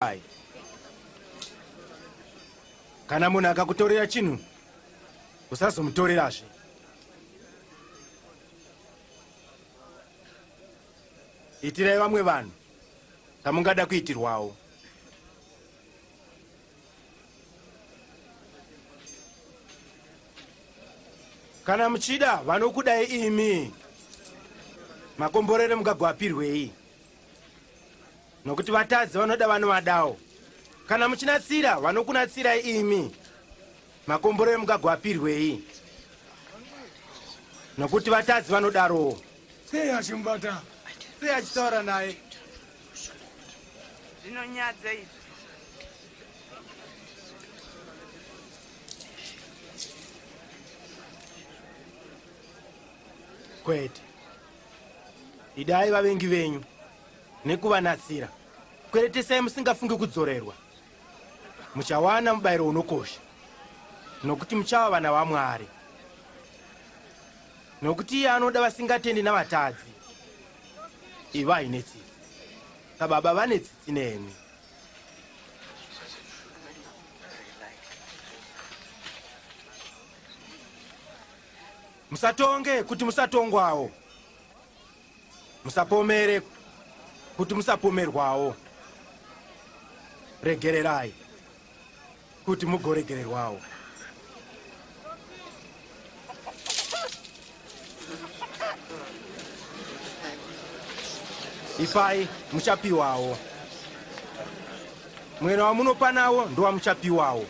Hai. Kana munhu akakutorera chinhu usazomutorerazve. Itirai vamwe vanhu kamungada kuitirwawo. Kana muchida vanokudai imi. Makomborere mugagwapirwei? nokuti vatadzi vanoda vanovadawo kana muchinatsira vanokunatsirai imi makomboro emugagwa apirwei nokuti vatadzi vanodarowo sei achimubata sei achitaura naye zvinonyadza izvi kwete idai vavengi venyu nekuvanatsira kweretesai musingafungi kudzorerwa muchawana mubayiro unokosha nokuti muchava vana vamwari nokuti iye anoda vasingatendi navatadzi ivai netsitsi nababa vane tsitsi nemi musatonge kuti musatongwawo musapomere kuti musapomerwawo regererai kuti mugoregererwawo ipai muchapiwawo mwena wamunopa nawo ndowamuchapiwawo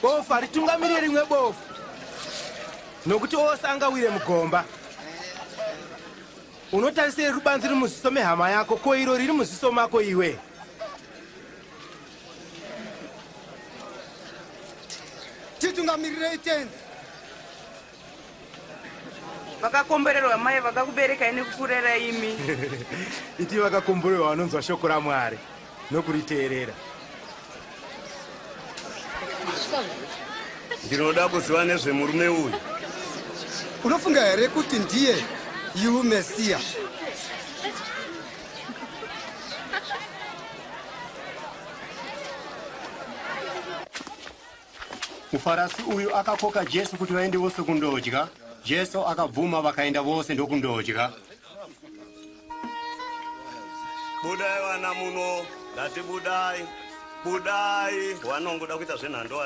bofu haritungamirire rimwe bofu nokuti ose angawire mugomba unotarisei rubanzi riri muziso mehama yako ko iro riri muziso mako iwe titungamirirei tenzi vakakomborerwa mai vakakuberekai nekukurera imi iti vakakomborerwa vanonzwa shoko ramwari nokuriteerera ndinoda kuziva nezvemurume uyu unofunga here kuti ndiye yu mesiya Mufarasi uyu akakoka Jesu kuti vaende vose kundodya. Jesu akabvuma vakaenda vose ndokundodya. Budai vana muno, ndati budai, budai, wanongoda kuita zvenhando wana.